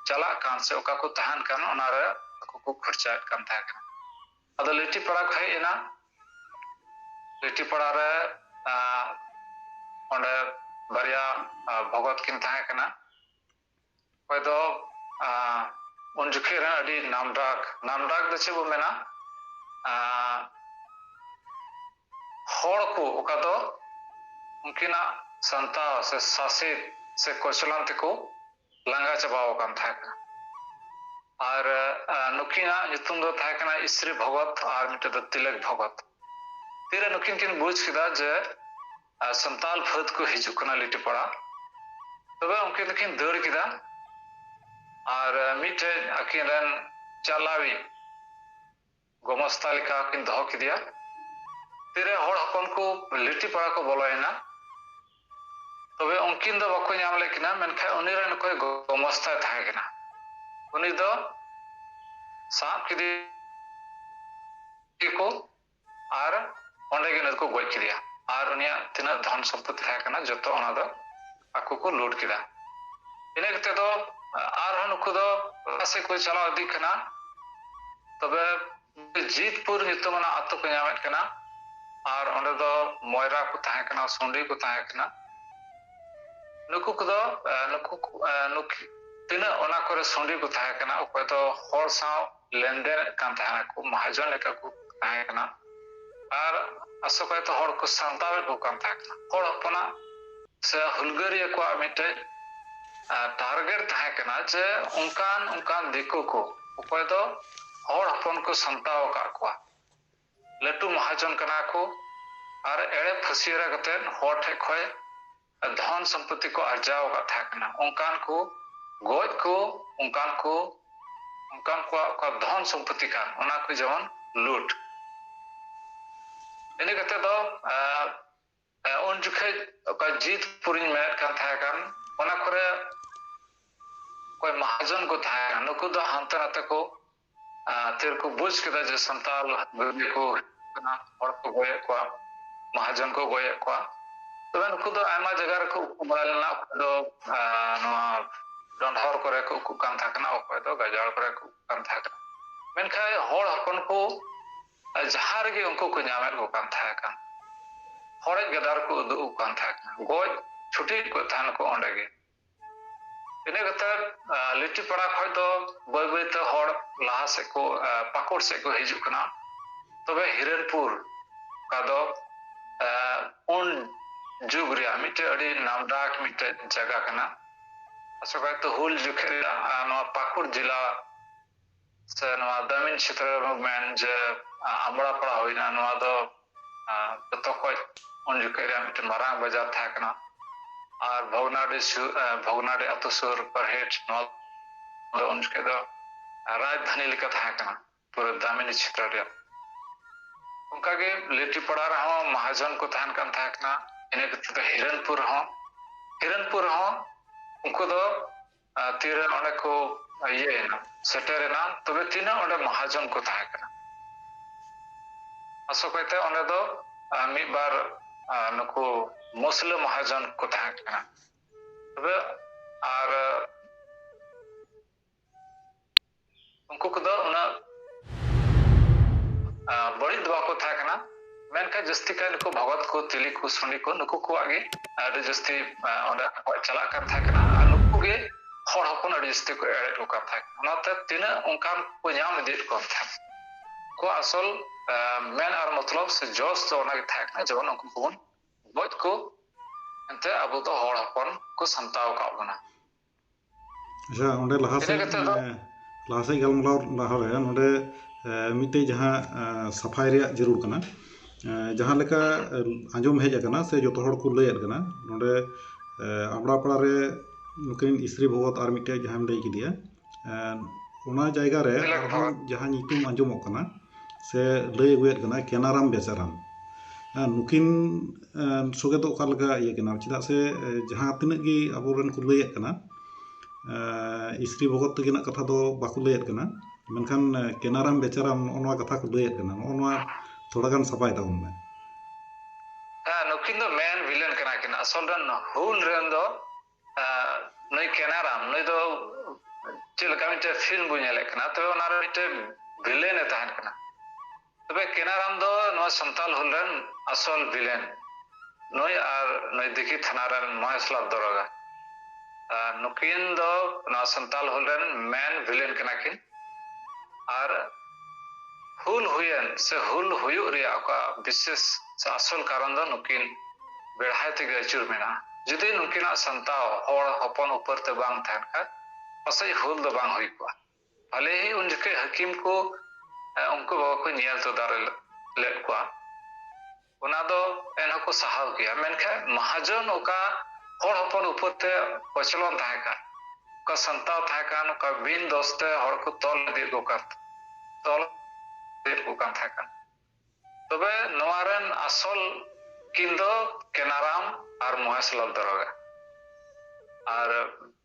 ᱪᱟᱞᱟᱜ ᱠᱟᱱ ᱥᱮ ᱚᱠᱟ ᱠᱚ ᱛᱟᱦᱮᱱ ᱠᱟᱱ ᱚᱱᱟᱨᱮ ᱟᱠᱚ ᱠᱚ ᱠᱷᱚᱨᱪᱟᱭᱮᱫ ᱠᱟᱱ ᱛᱟᱦᱮᱸ ᱠᱟᱱᱟ ᱟᱫᱚ ᱞᱤᱴᱤ ᱯᱟᱲᱟ ᱠᱚ ᱦᱮᱡ ᱮᱱᱟ ᱞᱤᱴᱤ ᱯᱟᱲᱟ ᱨᱮ ᱚᱸᱰᱮ ᱵᱟᱨᱭᱟ ᱵᱷᱚᱜᱚᱛ ᱠᱤᱱ ᱛᱟᱦᱮᱸ ᱠᱟᱱᱟ ᱚᱠᱚᱭ ᱫᱚ ᱩᱱ ᱡᱚᱠᱷᱮᱡ ᱨᱮ ᱟᱹᱰᱤ ᱱᱟᱢᱰᱟᱠ ᱱᱟᱢᱰᱟᱠ ᱫᱚ ᱪᱮᱫ ᱵᱚ ᱢᱮᱱᱟ ᱦᱚᱲ ᱠᱚ ᱚᱠᱟ ᱫᱚ ᱩᱱᱠᱤᱱᱟᱜ ᱥᱟᱱᱛᱟᱣ ᱥᱮ ᱥᱟᱥᱮᱛ ᱥᱮ ᱠᱚᱪᱞᱟᱱ ᱛᱮᱠᱚ ᱞᱟᱸᱜᱟ ᱪᱟᱵᱟᱣ ᱟᱠᱟᱱ ᱛᱟᱦᱮᱸ ᱠᱟᱱᱟ ᱟᱨ ᱱᱩᱠᱤᱱᱟᱜ ᱧᱩᱛᱩᱢ ᱫᱚ ᱛᱟᱦᱮᱸ ᱠᱟᱱᱟ ᱤᱥᱨᱤ ᱵᱷᱚᱜᱚᱛ ᱟᱨ ᱢᱤᱫᱴᱮᱱ ᱫᱚ ᱛᱤᱞᱚᱠ ᱵᱷᱚᱜᱚᱛ ᱛᱤᱨᱮ ᱱᱩᱠᱤᱱ ᱠᱤᱱ ᱵᱩᱡᱽ ᱠᱮᱫᱟ ᱡᱮ ᱥᱟᱱᱛᱟᱞ ᱯᱷᱟᱹᱫ ᱠᱚ ᱦᱤᱡᱩᱜ ᱠᱟᱱᱟ ᱞᱤᱴᱤᱯᱟᱲᱟ ᱛᱚᱵᱮ ᱩᱱᱠᱤᱱ ᱫᱚᱠᱤᱱ ᱫᱟᱹᱲ ᱠᱮᱫᱟ ᱟᱨ ᱢᱤᱫᱴᱮᱱ ᱟᱹᱠᱤᱱ ᱨᱮᱱ ᱪᱟᱞᱟᱣᱤᱡ ᱜᱚᱢᱚᱥᱛᱟ ᱞᱮᱠᱟ ᱠᱤᱱ ᱫᱚᱦᱚ ᱠᱮᱫᱮᱭᱟ᱾ ᱛᱤᱨᱮ ᱦᱚᱲ ᱦᱚᱯᱚᱱ ᱠᱚ ᱞᱤᱴᱤᱯᱟᱲᱟ ᱠᱚ ᱵᱚᱞᱚᱭᱮᱱᱟ᱾ ᱛᱚᱵᱮ ᱩᱱᱠᱤᱱ ᱫᱚ ᱵᱟᱠᱚ ᱧᱟᱢ ᱞᱮᱫ ᱠᱤᱱᱟ ᱢᱮᱱᱠᱷᱟᱱ ᱩᱱᱤ ᱨᱮᱱ ᱚᱠᱚᱭ ᱜᱚᱢᱚᱥᱛᱟᱭ ᱛᱟᱦᱮᱸ ᱠᱟᱱᱟ ᱩᱱᱤ ᱫᱚ ᱥᱟᱵ ᱠᱮᱫᱮᱭᱟ ᱠᱚ ᱟᱨ ᱚᱸᱰᱮ ᱜᱮ ᱩᱱᱤ ᱫᱚᱠᱚ ᱜᱚᱡ ᱠᱮᱫᱮᱭᱟ ᱟᱨ ᱩᱱᱤᱭᱟᱜ ᱛᱤᱱᱟᱹᱜ ᱫᱷᱚᱱ ᱥᱚᱢᱯᱚᱛᱤ ᱛᱟᱦᱮᱸ ᱠᱟᱱᱟ ᱡᱚᱛᱚ ᱚᱱᱟ ᱫᱚ ᱟᱠᱚ ᱠᱚ ᱞᱩᱴ ᱠᱮᱫᱟ ᱤᱱᱟᱹ ᱠᱟᱛᱮ ᱫᱚ ᱟᱨᱦᱚᱸ ᱱᱩᱠᱩ ᱫᱚ ᱞᱟᱦᱟ ᱥᱮᱫ ᱠᱚ ᱪᱟᱞᱟᱣ ᱤᱫᱤᱜ ᱠᱟᱱᱟ ᱛᱚᱵᱮ ᱡᱤᱛᱯᱩᱨ ᱧᱩᱛᱩᱢᱟᱱᱟᱜ ᱟᱛᱳ ᱠᱚ ᱧᱟᱢᱮᱫ ᱠᱟᱱᱟ ᱟᱨ ᱚᱸᱰᱮ ᱫᱚ ᱢᱚᱭᱨᱟ ᱠᱚ ᱛᱟᱦᱮᱸ ᱠᱟᱱᱟ ᱥᱩᱸᱰᱤ ᱠᱚ ᱛᱟᱦᱮᱸ ᱠᱟᱱᱟ ᱱᱩᱠᱩ ᱠᱚᱫᱚ ᱱᱩᱠᱩ ᱱᱩᱠᱩ ᱛᱤᱱᱟᱹᱜ ᱚᱱᱟ ᱠᱚᱨᱮ ᱥᱩᱸᱰᱤ ᱠᱚ ᱛᱟᱦᱮᱸ ᱠᱟᱱᱟ ᱚᱠᱚᱭ ᱫᱚ ᱦᱚᱲ ᱥᱟᱶ ᱞᱮᱱᱫᱮᱱᱮᱫ ᱠᱟᱱ ᱛᱟᱦᱮᱱᱟᱠᱚ ᱢᱟᱦᱟᱡᱚᱱ ᱞᱮᱠᱟ ᱠᱚ ᱛᱟᱦᱮᱸ ᱠᱟᱱᱟ ᱟᱨ ᱟᱥᱚᱠᱟᱭᱛᱮ ᱦᱚᱲ ᱠᱚ ᱥᱟᱱᱛᱟᱲᱮᱫ ᱠᱚ ᱠᱟᱱ ᱛᱟᱦᱮᱸ ᱠᱟᱱᱟ ᱦᱚᱲ ᱦᱚᱯᱚᱱᱟᱜ ᱥᱮ ᱦᱩᱞᱜᱟᱹᱨᱤᱭᱟᱹ ᱠᱚᱣᱟᱜ ᱢᱤᱫᱴᱮᱡ ᱴᱟᱨᱜᱮᱴ ᱛᱟᱦᱮᱸ ᱠᱟᱱᱟ ᱡᱮ ᱚᱱᱠᱟᱱ ᱚᱱᱠᱟᱱ ᱫᱤᱠᱩ ᱠᱚ ᱚᱠᱚᱭ ᱫᱚ ᱦᱚᱲ ᱦᱚᱯᱚᱱ ᱠᱚ ᱥᱟᱢᱴᱟᱣ ᱟᱠᱟᱫ ᱠᱚᱣᱟ ᱞᱟᱹᱴᱩ ᱢᱟᱦᱟᱡᱚᱱ ᱠᱟᱱᱟ ᱠᱚ ᱟᱨ ᱮᱲᱮ ᱯᱷᱟᱹᱥᱤᱭᱟᱹᱨᱟ ᱠᱟᱛᱮᱫ ᱦᱚᱲ ᱴᱷᱮᱡ ᱠᱷᱚᱡ ᱫᱷᱚᱱ ᱥᱚᱢᱯᱚᱛᱛᱤ ᱠᱚ ᱟᱨᱡᱟᱣ ᱟᱠᱟᱫ ᱛᱟᱦᱮᱸ ᱠᱟᱱᱟ ᱚᱱᱠᱟᱱ ᱠᱚ ᱜᱚᱡ ᱠᱚ ᱚᱱᱠᱟᱱ ᱠᱚ ᱚᱱᱠᱟᱱ ᱠᱚᱣᱟᱜ ᱚᱠᱟ ᱫᱷᱚᱱ ᱥᱚᱢᱯᱚᱛᱛᱤ ᱠᱟᱱ ᱚᱱᱟ ᱠᱚ ᱡᱮᱢᱚᱱ ᱞᱩᱴ ᱤᱱᱟᱹ ᱠᱟᱛᱮ ᱫᱚ ᱩᱱ ᱡᱚᱠᱷᱮᱡ ᱚᱠᱟ ᱡᱤᱛ ᱯᱩᱨᱤᱧ ᱢᱮᱱᱮᱫ ᱠᱟᱱ ᱛᱟᱦᱮᱸ ᱠᱟᱱ ᱚᱱᱟ ᱠᱚᱨᱮ ᱚᱠᱚᱭ ᱢᱟᱦᱟᱡᱚᱱ ᱠᱚ ᱛᱟᱦᱮᱸ ᱠᱟᱱᱟ ᱱᱩᱠᱩ ᱫᱚ ᱦᱟᱱᱛᱮ ᱱᱟᱛᱮ ᱠᱚ ᱟᱨ ᱛᱤ ᱨᱮᱠᱚ ᱵᱩᱡᱽ ᱠᱮᱫᱟ ᱡᱮ ᱥᱟᱱᱛᱟᱞ ᱜᱟᱹᱰᱤ ᱠᱚ ᱠᱟᱱᱟ ᱦᱚᱲ ᱠᱚ ᱜᱚᱭᱮᱫ ᱠᱚᱣᱟ ᱢᱟᱦᱟᱡᱚᱱ ᱠᱚ ᱜᱚᱭᱮᱫ ᱠᱚᱣᱟ ᱛᱚᱵᱮ ᱱᱩᱠᱩ ᱫᱚ ᱟᱭᱢᱟ ᱡᱟᱭᱜᱟ ᱨᱮᱠᱚ ᱩᱠᱩ ᱵᱟᱲᱟ ᱞᱮᱱᱟ ᱚᱠᱚᱭ ᱫᱚ ᱱᱚᱣᱟ ᱰᱚᱸᱰᱷᱚᱨ ᱠᱚᱨᱮ ᱠᱚ ᱩᱠᱩᱜ ᱠᱟᱱ ᱛᱟᱦᱮᱸ ᱠᱟᱱᱟ ᱚᱠᱚᱭ ᱫᱚ ᱜᱟᱡᱟᱲ ᱠᱚᱨᱮ ᱠᱚ ᱩᱠᱩᱜ ᱠᱟᱱ ᱛᱟᱦᱮᱸ ᱠᱟᱱᱟ ᱢᱮᱱᱠᱷᱟᱱ ᱦᱚᱲ ᱦᱚᱯᱚᱱ ᱠᱚ ᱡᱟᱦᱟᱸ ᱨᱮᱜᱮ ᱩᱱᱠᱩ ᱠᱚ ᱧᱟᱢᱮᱫ ᱠᱚ ᱠᱟᱱ ᱛᱟᱦᱮᱸ ᱠᱟᱱ ᱦᱚᱲᱮᱡ ᱜᱟᱫᱟᱨ ᱠᱚ ᱩᱫᱩᱜ ᱠᱟᱱ ᱛᱟᱦᱮᱸ ᱠᱟᱱᱟ ᱜᱚᱡ ᱪᱷᱩᱴᱤ ᱠᱚ ᱛᱟᱦᱮᱱ ᱠᱚ ᱚᱸᱰᱮ ᱜᱮ ᱤᱱᱟᱹ ᱠᱟᱛᱮᱫ ᱞᱤᱴᱤᱯᱟᱲᱟ ᱠᱷᱚᱡ ᱫᱚ ᱵᱟᱹᱭ ᱵᱟᱹᱭᱛᱮ ᱦᱚᱲ ᱞᱟᱦᱟ ᱥᱮᱫ ᱠᱚ ᱯᱟᱠᱩᱲ ᱥᱮᱫ ᱠᱚ ᱦᱤᱡᱩᱜ ᱠᱟᱱᱟ ᱛᱚᱵᱮ ᱦᱤᱨᱮᱱᱯᱩᱨ ᱚᱠᱟ ᱫᱚ ᱩᱱ ᱡᱩᱜᱽ ᱨᱮᱭᱟᱜ ᱢᱤᱫᱴᱮᱡ ᱟᱹᱰᱤ ᱱᱟᱢᱰᱟᱠ ᱢᱤᱫᱴᱮᱡ ᱡᱟᱭᱜᱟ ᱠᱟᱱᱟ ᱟᱥᱚᱠᱟᱭᱛᱮ ᱦᱩᱞ ᱡᱚᱠᱷᱮᱡ ᱨᱮᱭᱟᱜ ᱱᱚᱣᱟ ᱯᱟᱠᱩᱲ ᱡᱮᱞᱟ ᱥᱮ ᱱᱚᱣᱟ ᱫᱟᱹᱢᱤᱱ ᱪᱷᱮᱛᱨᱚ ᱨᱮ ᱵᱚᱱ ᱢᱮᱱ ᱡᱮ ᱟᱢᱲᱟ ᱯᱟᱲᱟ ᱦᱩᱭᱱᱟ ᱱᱚᱣᱟ ᱫᱚ ᱡᱚᱛᱚ ᱠᱷᱚᱡ ᱩᱱ ᱡᱚᱠᱷᱮᱡ ᱨᱮᱭᱟᱜ ᱢᱤᱫᱴᱮᱱ ᱢᱟᱨᱟᱝ ᱵᱟᱡᱟᱨ ᱛᱟᱦᱮᱸ ᱠᱟᱱᱟ ᱟᱨ ᱵᱷᱚᱜᱽᱱᱟᱰᱤ ᱥᱩᱨ ᱵᱷᱚᱜᱽᱱᱟᱰᱤ ᱟᱛᱳ ᱥᱩᱨ ᱯᱟᱨᱦᱮᱴ ᱱᱚᱣᱟ ᱫᱚ ᱩᱱ ᱡᱚᱠᱷᱮᱡ ᱫᱚ ᱨᱟᱡᱽᱫᱷᱟᱱᱤ ᱞᱮᱠᱟ ᱛᱟᱦᱮᱸ ᱠᱟᱱᱟ ᱯᱩᱨᱟᱹ ᱫᱟᱹᱢᱤᱱᱤ ᱪᱷᱮᱛᱨᱚ ᱨᱮᱭᱟᱜ ᱚᱱᱠᱟᱜᱮ ᱞᱤᱴᱤᱯᱟᱲᱟ ᱨᱮᱦᱚᱸ ᱢᱟᱦᱟᱡᱚᱱ ᱠᱚ ᱛᱟᱦᱮᱱ ᱠᱟᱱ ᱛᱟᱦᱮᱸ ᱠᱟᱱᱟ ᱤᱱᱟᱹ ᱠᱟᱛᱮ ᱫᱚ ᱦᱤᱨᱚᱱᱯᱩᱨ ᱦᱚᱸ ᱦᱤᱨᱚᱱᱯᱩᱨ ᱦᱚᱸ ᱩᱱᱠᱩ ᱫᱚ ᱛᱤᱨᱮ ᱚᱸᱰᱮ ᱠᱚ ᱤᱭᱟᱹᱭᱮᱱᱟ ᱥᱮᱴᱮᱨᱮᱱᱟ ᱛᱚᱵᱮ ᱛᱤᱱᱟᱹᱜ ᱚᱸᱰᱮ ᱢᱚᱦᱟᱡᱚᱱ ᱠᱚ ᱛᱟᱦᱮᱸ ᱠᱟᱱᱟ ᱟᱥᱚᱠᱟᱭᱛᱮ ᱚᱸᱰᱮ ᱫᱚ ᱢᱤᱫ ᱵᱟᱨ ᱱᱩᱠᱩ ᱢᱩᱥᱞᱟᱹ ᱢᱚᱦᱟᱡᱚᱱ ᱠᱚ ᱛᱟᱦᱮᱸ ᱠᱟᱱᱟ ᱛᱚᱵᱮ ᱟᱨ ᱩᱱᱠᱩ ᱠᱚᱫᱚ ᱩᱱᱟᱹᱜ ᱵᱟᱹᱲᱤᱡ ᱫᱚ ᱵᱟᱠᱚ ᱛᱟᱦᱮᱸ ᱠᱟᱱᱟ ᱢᱮᱱᱠᱷᱟᱱ ᱡᱟᱹᱥᱛᱤ ᱠᱟᱭ ᱱᱩᱠᱩ ᱵᱷᱚᱜᱚᱛ ᱠᱚ ᱛᱤᱞᱤ ᱠᱚ ᱥᱩᱱᱤ ᱠᱚ ᱱᱩᱠᱩ ᱠᱚᱣᱟᱜ ᱜᱮ ᱟᱹᱰᱤ ᱡᱟᱹᱥᱛᱤ ᱚᱸᱰᱮ ᱟᱠᱚᱣᱟᱜ ᱪᱟᱞᱟᱜ ᱠᱟᱱ ᱛᱟᱦᱮᱸ ᱠᱟᱱᱟ ᱟᱨ ᱱᱩᱠᱩ ᱜᱮ ᱦᱚᱲ ᱦᱚᱯᱚᱱ ᱟᱹᱰᱤ ᱡᱟᱹᱥᱛᱤ ᱠᱚ ᱮᱲᱮ ᱠᱚ ᱠᱟᱱ ᱛᱟᱦᱮᱸ ᱠᱟᱱᱟ ᱚᱱᱟᱛᱮ ᱛᱤᱱᱟᱹᱜ ᱚᱱᱠᱟᱱ ᱠᱚ ᱧᱟᱢ ᱤᱫᱤᱭᱮᱫ ᱠᱚ ᱛᱟᱦᱮᱸ ᱠᱚ ᱟᱥᱚᱞ ᱢᱮᱱ ᱟᱨ ᱢᱚᱛᱞᱚᱵ ᱥᱮ ᱡᱚᱥ ᱫᱚ ᱚᱱᱟᱜᱮ ᱛᱟᱦᱮᱸ ᱠᱟᱱᱟ ᱡᱮᱢᱚᱱ ᱩᱱᱠᱩ ᱠᱚᱵᱚᱱ ᱜᱚᱡ ᱠᱚ ᱮᱱᱛᱮ ᱟᱵᱚ ᱫᱚ ᱦᱚᱲ ᱦᱚᱯᱚᱱ ᱠᱚ ᱥᱟᱢᱴᱟᱣ ᱟᱠᱟᱫ ᱵᱚᱱᱟ ᱟᱪᱪᱷᱟ ᱚᱸᱰᱮ ᱞᱟᱦᱟ ᱥᱮᱫ ᱞᱟᱦᱟ ᱥᱮᱫ ᱜᱟᱞᱢᱟᱨᱟᱣ ᱞᱟᱦᱟ ᱨᱮ ᱱᱚᱸᱰᱮ ᱢᱤᱫᱴᱮᱡ ᱡᱟᱦᱟᱸ ᱥᱟᱯᱷᱟᱭ ᱨᱮᱭᱟᱜ ᱡᱟᱹᱨᱩᱲ ᱠᱟᱱᱟ ᱡᱟᱦᱟᱸ ᱞᱮᱠᱟ ᱟᱸᱡᱚᱢ ᱦᱮᱡ ᱟᱠᱟᱱᱟ ᱥᱮ ᱡᱚᱛᱚ ᱦᱚᱲ ᱠᱚ ᱞᱟᱹᱭᱮᱫ ᱠᱟᱱᱟ ᱱᱚᱸᱰᱮ ᱟᱢᱲᱟ ᱯᱟᱲᱟ ᱨᱮ ᱱᱩᱠᱤᱱ ᱤᱥᱨᱤ ᱵᱷᱚᱜᱚᱛ ᱟᱨ ᱢᱤᱫᱴᱮᱡ ᱡᱟᱦᱟᱸᱢ ᱞᱟᱹᱭ ᱠᱮᱫᱮᱭᱟ ᱚᱱᱟ ᱡᱟᱭᱜᱟ ᱨᱮ ᱟᱨᱦᱚᱸ ᱡᱟᱦᱟᱸ ᱧᱩᱛᱩᱢ ᱟᱸᱡᱚᱢᱚᱜ ᱠᱟᱱᱟ ᱥᱮ ᱞᱟᱹᱭ ᱟᱹᱜᱩᱭᱮᱫ ᱠᱟᱱᱟ ᱠᱮᱱᱟᱨᱟᱢ ᱵᱮᱪᱟᱨᱟᱢ ᱱᱩᱠᱤᱱ ᱥᱚᱜᱮ ᱫᱚ ᱚᱠᱟ ᱞᱮᱠᱟ ᱤᱭᱟᱹ ᱠᱟᱱᱟ ᱪᱮᱫᱟᱜ ᱥᱮ ᱡᱟᱦᱟᱸ ᱛᱤᱱᱟᱹᱜ ᱜᱮ ᱟᱵᱚ ᱨᱮᱱ ᱠᱚ ᱞᱟᱹᱭᱮᱫ ᱠᱟᱱᱟ ᱤᱥᱨᱤ ᱵᱷᱚᱜᱚᱛ ᱛᱟᱹᱠᱤᱱᱟᱜ ᱠᱟᱛᱷᱟ ᱫᱚ ᱵᱟᱠᱚ ᱞᱟᱹᱭᱮᱫ ᱠᱟᱱᱟ ᱢᱮᱱᱠᱷᱟᱱ ᱠᱮᱱᱟᱨᱟᱢ ᱵᱮᱪᱟᱨᱟᱢ ᱱᱚᱜᱼᱚ ᱱᱚᱣᱟ ᱠᱟᱛᱷᱟ ᱠᱚ ᱞᱟᱹᱭᱮᱫ ᱠᱟᱱᱟ ᱱᱚᱜᱼᱚ ᱱᱚᱣᱟ ᱛᱷᱚᱲᱟ ᱜᱟᱱ ᱥᱟᱯᱟᱭ ᱛᱟᱵᱚᱱ ᱢᱮ ᱱᱩᱠᱤᱱ ᱫᱚ ᱢᱮᱱ ᱵᱷᱤᱞᱮᱱ ᱠᱟᱱᱟ ᱠᱤᱱ ᱟᱥᱚᱞ ᱨᱮᱱ ᱦᱩᱞ ᱨᱮᱱ ᱫᱚ ᱱᱩᱭ ᱠᱮᱱᱟᱨᱟᱢ ᱱᱩᱭ ᱫᱚ ᱪᱮᱫ ᱞᱮᱠᱟ ᱢᱤᱫᱴᱮᱡ ᱯᱷᱤᱞᱢ ᱵᱚᱱ ᱧᱮᱞᱮᱫ ᱠᱟᱱᱟ ᱛᱚᱵᱮ ᱚᱱᱟᱨᱮ ᱢᱤᱫᱴᱮᱡ ᱵᱷᱤᱞᱮᱱ ᱮ ᱛᱟᱦᱮᱱ ᱠᱟᱱᱟ ᱛᱚᱵᱮ ᱠᱮᱱᱟᱨᱟᱢ ᱫᱚ ᱱᱚᱣᱟ ᱥᱟᱱᱛᱟᱞ ᱦᱩᱞ ᱨᱮᱱ ᱟᱥᱚᱞ ᱵᱷᱤᱞᱮᱱ ᱱᱩᱭ ᱟᱨ ᱱᱩᱭ ᱫᱤᱠᱷᱤ ᱛᱷᱟᱱᱟ ᱨᱮᱱ ᱢᱚᱦᱮᱥᱞᱟᱞ ᱫᱚᱨᱚᱜᱟ ᱱᱩᱠᱤᱱ ᱫᱚ ᱱᱚᱣᱟ ᱥᱟᱱᱛᱟᱞ ᱦᱩᱞ ᱨᱮᱱ ᱢᱮᱱ ᱵᱷᱤᱞᱮᱱ ᱠᱟᱱᱟ ᱠᱤᱱ ᱟᱨ ᱦᱩᱞ ᱦᱩᱭᱮᱱ ᱥᱮ ᱦᱩᱞ ᱦᱩᱭᱩᱜ ᱨᱮᱭᱟᱜ ᱚᱠᱟ ᱵᱤᱥᱮᱥ ᱥᱮ ᱟᱥᱚᱞ ᱠᱟᱨᱚᱱ ᱫᱚ ᱱᱩᱠᱤᱱ ᱵᱮᱲᱦᱟᱭ ᱛᱮᱜᱮ ᱟᱹᱪᱩᱨ ᱢᱮᱱᱟᱜᱼᱟ᱾ ᱡᱩᱫᱤ ᱱᱩᱠᱤᱱᱟᱜ ᱥᱟᱱᱛᱟᱣ ᱦᱚᱲ ᱦᱚᱯᱚᱱ ᱩᱯᱟᱹᱨ ᱛᱮ ᱵᱟᱝ ᱛᱟᱦᱮᱱ ᱠᱷᱟᱱ ᱯᱟᱥᱮᱡ ᱦᱩᱞ ᱫᱚ ᱵᱟᱝ ᱦᱩᱭ ᱠᱚᱜᱼᱟ᱾ ᱵᱷᱟᱞᱮᱦᱤ ᱩᱱ ᱡᱚᱠᱷᱮᱡ ᱦᱟᱹᱠᱤᱢ ᱠᱚ ᱩᱱᱠᱩ ᱵᱟᱵᱟ ᱠᱚ ᱧᱮᱞ ᱛᱚᱫᱟᱨᱚ ᱞᱮᱫ ᱠᱚᱣᱟ᱾ ᱚᱱᱟ ᱫᱚ ᱮᱱᱦᱚᱸ ᱠᱚ ᱥᱟᱦᱟᱣ ᱜᱮᱭᱟ ᱢᱮᱱᱠᱷᱟᱱ ᱢᱟᱦᱟᱡᱚᱱ ᱚᱠᱟ ᱦᱚᱲ ᱦᱚᱯᱚᱱ ᱩᱯᱚᱨ ᱛᱮ ᱠᱚᱪᱞᱚᱱ ᱛᱟᱦᱮᱸ ᱠᱟᱱ ᱚᱠᱟ ᱥᱟᱱᱛᱟᱲ ᱛᱟᱦᱮᱸ ᱠᱟᱱ ᱚᱠᱟ ᱵᱤᱱ ᱫᱚᱥ ᱛᱮ ᱦᱚᱲ ᱠᱚ ᱛᱚᱞ ᱤᱫᱤᱭᱮᱫ ᱠᱚ ᱠᱟᱱ ᱛᱚᱞ ᱤᱫᱤᱭᱮᱫ ᱠᱚ ᱠᱟᱱ ᱛᱟᱦᱮᱸ ᱠᱟᱱ ᱛᱚᱵᱮ ᱱᱚᱣᱟ ᱨᱮᱱ ᱟᱥᱚᱞ ᱠᱤᱱ ᱫᱚ ᱠᱮᱱᱟᱨᱟᱢ ᱟᱨ ᱢᱚᱦᱮᱥᱞᱟᱞ ᱫᱟᱨᱚᱜᱟ ᱟᱨ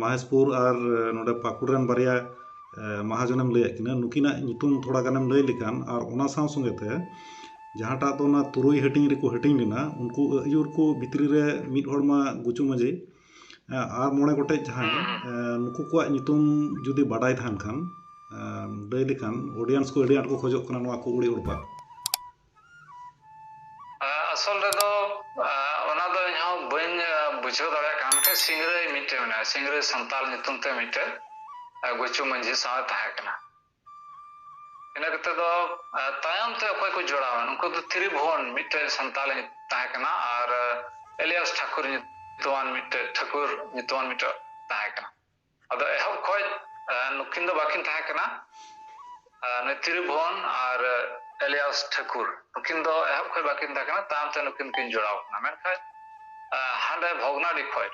ᱢᱚᱦᱮᱥᱯᱩᱨ ᱟᱨ ᱱᱚᱸᱰᱮ ᱯᱟᱹᱠᱩᱲ ᱨᱮᱱ ᱵᱟᱨᱭᱟ ᱢᱟᱦᱟᱡᱚᱱᱮᱢ ᱞᱟᱹᱭᱟᱫ ᱠᱤᱱᱟᱹ ᱱᱩᱠᱤᱱᱟᱜ ᱧᱩᱛᱩᱢ ᱛᱷᱚᱲᱟ ᱜᱟᱱᱮᱢ ᱞᱟᱹᱭ ᱞᱮᱠᱷᱟᱱ ᱟᱨ ᱚᱱᱟ ᱥᱟᱶ ᱥᱚᱸᱜᱮ ᱛᱮ ᱡᱟᱦᱟᱸᱴᱟᱜ ᱫᱚ ᱚᱱᱟ ᱛᱩᱨᱩᱭ ᱦᱟᱹᱴᱤᱧ ᱨᱮᱠᱚ ᱦᱟᱹᱴᱤᱧ ᱞᱮᱱᱟ ᱩᱱᱠᱩ ᱟᱹᱭᱩᱨ ᱠᱚ ᱵᱷᱤᱛᱨᱤ ᱨᱮ ᱢᱤᱫ ᱦᱚᱲ ᱢᱟ ᱜᱩᱪᱩ ᱢᱟᱹᱡᱷᱤ ᱟᱨ ᱢᱚᱬᱮ ᱜᱚᱴᱮᱡ ᱡᱟᱦᱟᱸᱭ ᱱᱩᱠᱩ ᱠᱚᱣᱟᱜ ᱧᱩᱛᱩᱢ ᱡᱩᱫᱤ ᱵᱟᱰᱟᱭ ᱛᱟᱦᱮᱱ ᱠᱷᱟᱱ ᱞᱟᱹᱭ ᱞᱮᱠᱷᱟᱱ ᱚᱰᱤᱭᱮᱱᱥ ᱠᱚ ᱟᱹᱰᱤ ᱟᱸᱴ ᱠᱚ ᱠᱷᱚᱡᱚᱜ ᱠᱟᱱᱟ ᱱᱚᱣᱟ ᱠᱚ ᱩᱲᱤ ᱩᱲᱯᱟ ᱟᱥᱚᱞ ᱨᱮᱫᱚ ᱚᱱᱟ ᱫᱚ ᱤᱧ ᱦᱚᱸ ᱵᱟᱹᱧ ᱵᱩᱡᱷᱟᱹᱣ ᱫᱟᱲᱮᱭᱟᱜ ᱠᱟᱱᱟ ᱢᱤᱫᱴᱮᱱ ᱥᱤᱝᱨᱟᱹᱭ ᱢᱤᱫᱴᱮᱱ ᱢᱮᱱᱟᱭᱟ ᱥᱤᱝᱨᱟᱹᱭ ᱥᱟᱱᱛᱟᱞ ᱧᱩᱛᱩᱢ ᱛᱮ ᱢᱤᱫᱴᱮᱱ ᱜᱩᱪᱩ ᱢᱟᱹᱡᱷᱤ ᱥᱟᱶ ᱛᱟᱦᱮᱸ ᱠᱟᱱᱟ ᱤᱱᱟᱹ ᱠᱟᱛᱮ ᱫᱚ ᱛᱟᱭᱚᱢ ᱛᱮ ᱚᱠᱚᱭ ᱠᱚ ᱡᱚᱲᱟᱣᱟ ᱩᱱᱠᱩ ᱫᱚ ᱛᱨᱤᱵᱷᱩᱣᱚᱱ ᱢᱤᱫᱴᱮᱱ ᱥᱟᱱᱛᱟᱞ ᱛᱟᱦᱮᱸ ᱠᱟᱱᱟ ᱟᱨ ᱮᱞᱤᱭᱟᱥ ᱴᱷᱟᱠᱩᱨ ᱧᱩᱛᱩᱢᱟᱱ ᱢᱤᱫᱴᱮᱱ ᱴᱷᱟᱹᱠᱩᱨ ᱧᱩᱛᱩᱢᱟᱱ ᱢᱤᱫᱴᱮᱱ ᱛᱟᱦᱮᱸ ᱠᱟᱱᱟ ᱟᱫᱚ ᱮᱦᱚᱵ ᱠᱷᱚᱡ ᱱᱩᱠᱤᱱ ᱫᱚ ᱵᱟᱠᱤᱱ ᱛᱟᱦᱮᱸ ᱠᱟᱱᱟ ᱱᱩᱭ ᱛᱤᱨᱩᱵᱷᱚᱱ ᱟᱨ ᱮᱞᱤᱭᱟᱥ ᱴᱷᱟᱹᱠᱩᱨ ᱱᱩᱠᱤᱱ ᱫᱚ ᱮᱦᱚᱵ ᱠᱷᱚᱡ ᱵᱟᱠᱤᱱ ᱛᱟᱦᱮᱸ ᱠᱟᱱᱟ ᱛᱟᱭᱚᱢ ᱛᱮ ᱱᱩᱠᱤᱱ ᱠᱤᱱ ᱡᱚᱲᱟᱣ ᱠᱟᱱᱟ ᱢᱮᱱᱠᱷᱟᱱ ᱦᱟᱸᱰᱮ ᱵᱷᱚᱜᱽᱱᱟᱰᱤ ᱠᱷᱚᱡ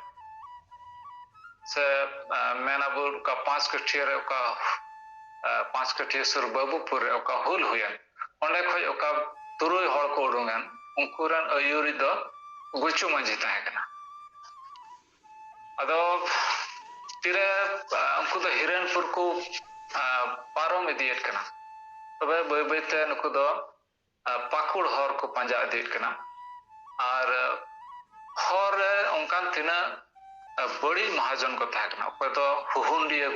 ᱥᱮ ᱢᱮᱱ ᱟᱵᱚ ᱚᱠᱟ ᱯᱟᱸᱪ ᱠᱟᱹᱴᱷᱤᱭᱟᱹ ᱨᱮ ᱚᱠᱟ ᱯᱟᱸᱪ ᱠᱟᱹᱴᱷᱤᱭᱟᱹ ᱥᱩᱨ ᱵᱟᱹᱵᱩᱯᱩᱨ ᱨᱮ ᱚᱠᱟ ᱦᱩᱞ ᱦᱩᱭᱮᱱ ᱚᱸᱰᱮ ᱠᱷᱚᱡ ᱚᱠᱟ ᱛᱩᱨᱩᱭ ᱦᱚᱲ ᱠᱚ ᱩᱰᱩᱝᱮᱱ ᱩᱱᱠᱩ ᱨᱮᱱ ᱟᱹᱭᱩᱨᱤᱡ ᱫᱚ ᱜᱩᱪᱩ ᱢᱟᱹᱡᱷᱤ ᱛᱟᱦᱮᱸ ᱠᱟᱱᱟ ᱟᱫᱚ ᱛᱤᱨᱮ ᱩᱱᱠᱩ ᱫᱚ ᱦᱤᱨᱟᱹᱱᱯᱩᱨ ᱠᱚ ᱯᱟᱨᱚᱢ ᱤᱫᱤᱭᱮᱫ ᱠᱟᱱᱟ ᱛᱚᱵᱮ ᱵᱟᱹᱭ ᱵᱟᱹᱭᱛᱮ ᱱᱩᱠᱩ ᱫᱚ ᱯᱟᱹᱠᱩᱲ ᱦᱚᱨ ᱠᱚ ᱯᱟᱸᱡᱟ ᱤᱫᱤᱭᱮᱫ ᱠᱟᱱᱟ ᱟᱨ ᱦᱚᱨ ᱨᱮ ᱚᱱᱠᱟᱱ ᱛᱤᱱᱟᱹᱜ ᱵᱟᱹᱲᱤᱡ ᱢᱚᱦᱟᱡᱚᱱ ᱠᱚ ᱛᱟᱦᱮᱸ ᱠᱟᱱᱟ ᱚᱠᱚᱭ ᱫᱚ ᱦᱩᱦᱩᱱᱰᱤᱭᱟᱹ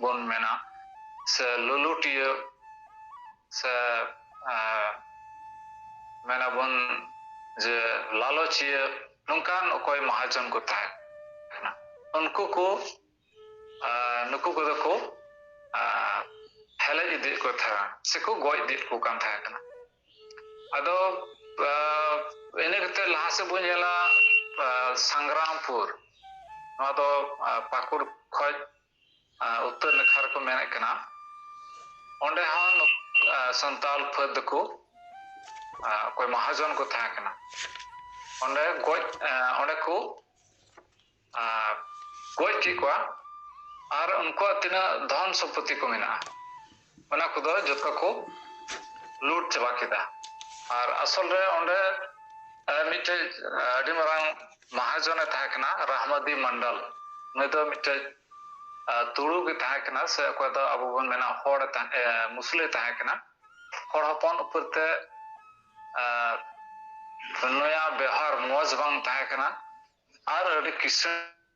ᱵᱚᱱ ᱢᱮᱱᱟ ᱥᱮ ᱞᱩᱞᱩᱴᱤᱭᱟᱹ ᱥᱮ ᱢᱮᱱᱟᱵᱚᱱ ᱡᱮ ᱞᱟᱞᱚᱪᱤᱭᱟᱹ ᱱᱚᱝᱠᱟᱱ ᱚᱠᱚᱭ ᱢᱟᱦᱟᱡᱚᱱ ᱠᱚ ᱛᱟᱦᱮᱸ ᱠᱟᱱᱟ ᱩᱱᱠᱩ ᱠᱚ ᱱᱩᱠᱩ ᱠᱚᱫᱚ ᱠᱚ ᱦᱮᱞᱮᱡ ᱤᱫᱤᱭᱮᱫ ᱠᱚ ᱛᱟᱦᱮᱸ ᱥᱮᱠᱚ ᱜᱚᱡ ᱤᱫᱤᱭᱮᱫ ᱠᱚ ᱠᱟᱱ ᱛᱟᱦᱮᱸ ᱠᱟᱱᱟ ᱟᱫᱚ ᱤᱱᱟᱹ ᱠᱟᱛᱮᱫ ᱞᱟᱦᱟ ᱥᱮᱫ ᱵᱚᱱ ᱧᱮᱞᱟ ᱥᱟᱝᱜᱨᱟᱢᱯᱩᱨ ᱱᱚᱣᱟ ᱫᱚ ᱯᱟᱹᱠᱩᱲ ᱠᱷᱚᱡ ᱩᱛᱛᱚᱨ ᱱᱟᱠᱷᱟ ᱨᱮᱠᱚ ᱢᱮᱱᱮᱫ ᱠᱟᱱᱟ ᱚᱸᱰᱮ ᱦᱚᱸ ᱥᱟᱱᱛᱟᱞ ᱯᱷᱟᱹᱫ ᱫᱚᱠᱚ ᱚᱠᱚᱭ ᱢᱟᱦᱟᱡᱚᱱ ᱠᱚ ᱛᱟᱦᱮᱸ ᱠᱟᱱᱟ ᱚᱸᱰᱮ ᱜᱚᱡ ᱚᱸᱰᱮ ᱠᱚ ᱜᱚᱡ ᱠᱮᱫ ᱠᱚᱣᱟ ᱟᱨ ᱩᱱᱠᱩᱣᱟᱜ ᱛᱤᱱᱟᱹᱜ ᱫᱷᱚᱱ ᱥᱚᱢᱯᱚᱛᱛᱤ ᱠᱚ ᱢᱮᱱᱟᱜᱼᱟ ᱚᱱᱟ ᱠᱚᱫᱚ ᱡᱚᱛᱚ ᱠᱚ ᱞᱩᱴ ᱪᱟᱵᱟ ᱠᱮᱫᱟ ᱟᱨ ᱟᱥᱚᱞ ᱨᱮ ᱚᱸᱰᱮ ᱢᱤᱫᱴᱮᱡ ᱟᱹᱰᱤ ᱢᱟᱨᱟᱝ ᱢᱟᱦᱟᱡᱚᱱᱮ ᱛᱟᱦᱮᱸ ᱠᱟᱱᱟ ᱨᱟᱦᱢᱟᱫᱤ ᱢᱚᱱᱰᱚᱞ ᱱᱩᱭ ᱫᱚ ᱢᱤᱫᱴᱮᱡ ᱛᱩᱲᱩ ᱜᱮ ᱛᱟᱦᱮᱸ ᱠᱟᱱᱟ ᱥᱮ ᱚᱠᱚᱭ ᱫᱚ ᱟᱵᱚ ᱵᱚᱱ ᱢᱮᱱᱟ ᱦᱚᱲ ᱢᱩᱥᱞᱟᱹ ᱛᱟᱦᱮᱸ ᱠᱟᱱᱟ ᱦᱚᱲ ᱦᱚᱯᱚᱱ ᱩᱯᱚᱨ ᱛᱮ ᱱᱩᱭᱟᱜ ᱵᱮᱣᱦᱟᱨ ᱢᱚᱡᱽ ᱵᱟᱝ ᱛᱟᱦᱮᱸ ᱠᱟᱱᱟ ᱟᱨ ᱟᱹᱰᱤ ᱠᱤᱥᱟᱹᱬ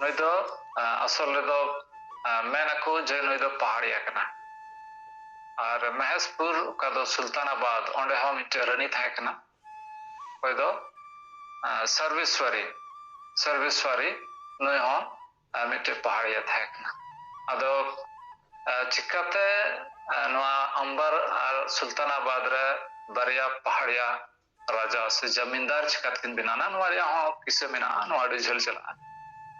ᱱᱩᱭ ᱫᱚ ᱟᱥᱚᱞ ᱨᱮᱫᱚ ᱢᱮᱱ ᱟᱠᱚ ᱡᱮ ᱱᱩᱭ ᱫᱚ ᱯᱟᱦᱟᱲᱤᱭᱟ ᱠᱟᱱᱟ ᱟᱨ ᱢᱮᱦᱮᱥᱯᱩᱨ ᱚᱠᱟ ᱫᱚ ᱥᱩᱞᱛᱟᱱᱟᱵᱟᱫᱽ ᱚᱸᱰᱮ ᱦᱚᱸ ᱢᱤᱫᱴᱮᱱ ᱨᱟᱹᱱᱤ ᱛᱟᱦᱮᱸ ᱠᱟᱱᱟ ᱚᱠᱚᱭ ᱫᱚ ᱥᱚᱨᱵᱮᱥᱣᱟᱨᱤ ᱥᱚᱨᱵᱮᱥᱣᱟᱨᱤ ᱱᱩᱭ ᱦᱚᱸ ᱢᱤᱫᱴᱮᱱ ᱯᱟᱦᱟᱲᱤᱭᱟ ᱛᱟᱦᱮᱸ ᱠᱟᱱᱟ ᱟᱫᱚ ᱪᱤᱠᱟᱛᱮ ᱱᱚᱣᱟ ᱟᱢᱵᱟᱨ ᱟᱨ ᱥᱩᱞᱛᱟᱱᱟᱵᱟᱫᱽ ᱨᱮ ᱵᱟᱨᱭᱟ ᱯᱟᱦᱟᱲᱤᱭᱟ ᱨᱟᱡᱟ ᱥᱮ ᱡᱟᱢᱤᱱᱫᱟᱨ ᱪᱤᱠᱟᱹᱛᱮᱠᱤᱱ ᱵᱮᱱᱟᱣᱱᱟ ᱱᱚᱣᱟ ᱨᱮᱭᱟᱜ ᱦᱚᱸ ᱠᱤᱥᱟᱹ ᱢᱮᱱᱟᱜᱼᱟ ᱱᱚᱣᱟ ᱟᱹᱰᱤ ᱡᱷᱟᱹᱞ ᱪᱟᱞᱟᱜᱼᱟ